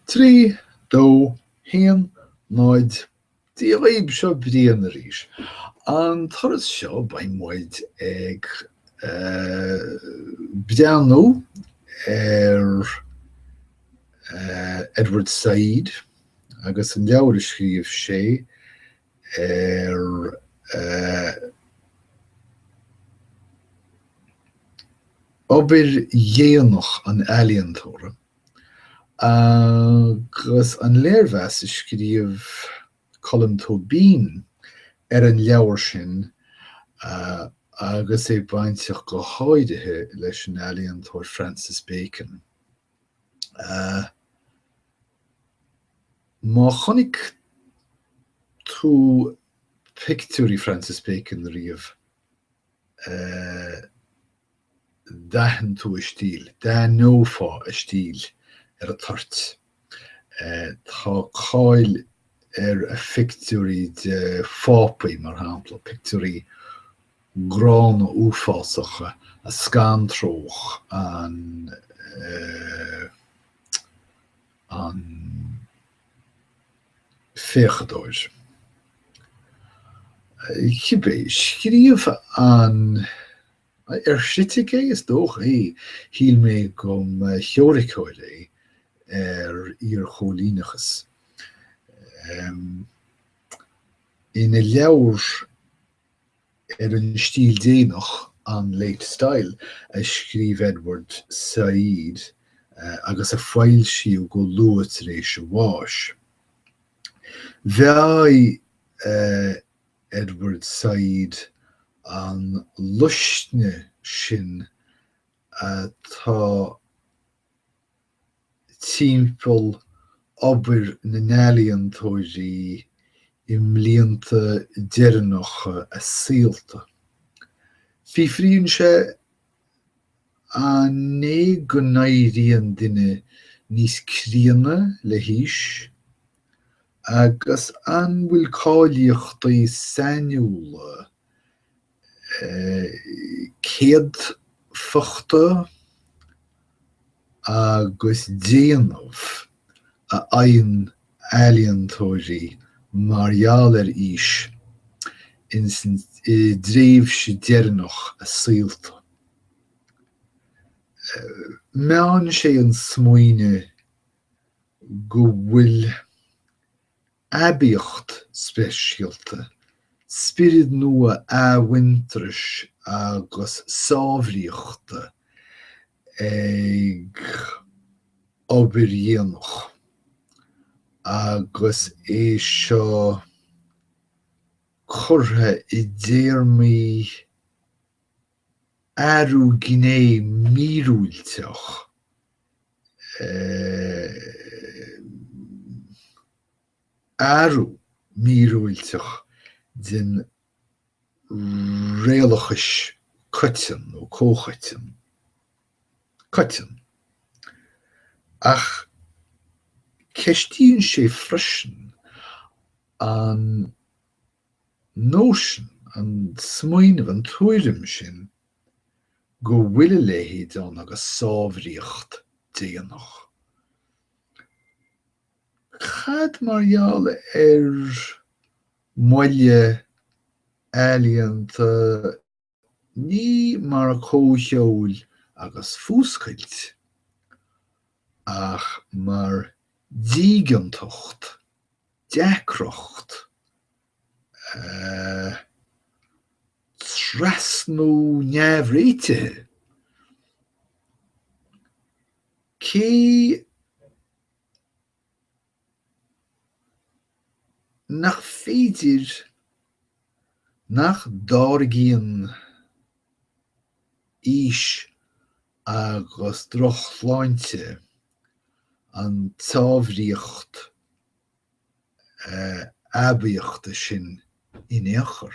3, 2, 1, 0 Dia dhaoib, seo Brian arís. An turas seo beidh muid ag breathnú ar Edward Said agus an leabhar a scríobh sé ar obair dhéanach an ealaíontóra. agus an léirmheas a scríobh Colm Tóibín ar an leabhar sin agus é bainteach go háirithe leis an ealaíontóir Francis Bacon. Má chonaic tú pictiúirí Francis Bacon riamh, d'aithin tú a stíl, d'aithneofá a stíl ar an toirt. Tá cáil ar a phictiúirí de Phápaí, mar shampla, pictiúirí gránna uafásacha a scantródh an féachadóir. Cibé, scríobh an. Ar chritic é? Is dócha é. Shíl mé go mba theoiriceoir é ar iar-chóilíneachas. Ina leabhar ar an stíl dhéanach, On Late Style, a scríobh Edward Said agus a foilsíodh go luath tar éis a bháis, mheáigh Edward Said an luisne sin atá timpeall obair na n-ealaíontóirí i mblianta deireanacha a saolta. Fiafraíonn sé An é go n-éiríonn duine níos críonna le haois agus an bhfuil cáilíochtaí sainiúla céadfachta agus déanamh a fhaigheann ealaíontóirí mar gheall ar aois insa dtréimhse deireanach a saolta? Meánn sé an smaoineamh go bhfuil aibíocht speisialta, spiorad nua athmhuintearais agus sáimhríochta ag obair dhéanach agus é seo curtha i dtéarmaí athrú gné míorúilteach eh athrú míorúilteach den réalachas coiteann nó comhchoiteann coiteann ach ceistíonn sé freisin an nóisean, an smaoineamh, an tuairim sin go bhfuil a leithéid ann agus sáimhríocht déanach. Cad mar gheall ar mhoille ealaíonta? Ní mar comhcheoil agus fuascailt, ach mar dígeantacht, deacracht, eh, trasnú neamhréitithe, cé nach féidir, nach dtáirgíonn aois agus drochshláinte an tsáimhríocht aibíochta sin in aon chor.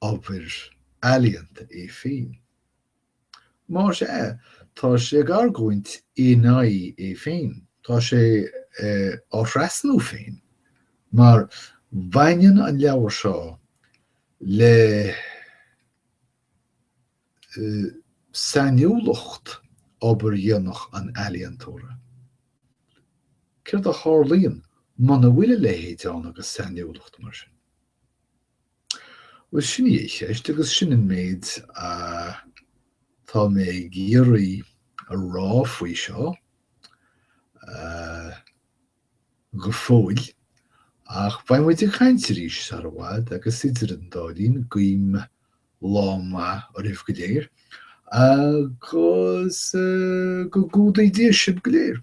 obair ealaíonta í féin. Más ea, tá sé ag argóint in aghaidh é féin. Tá sé á thrasnú féin, mar baineann an leabhar seo le sainiúlacht obair dhéanach an ealaíontóra. Céard a tharlaíonn muna bhfuil a leithéid ann agus sainiúlacht mar sin? Bhuel, sin í an cheist agus sin an méid atá mé ag iarraidh a rá faoi seo go fóill. Ach beidh muid ag caint arís sar i bhfad agus idir an dá linn guím lá maith oraibh go léir agus go gcumhdaí Dia sibh go léir.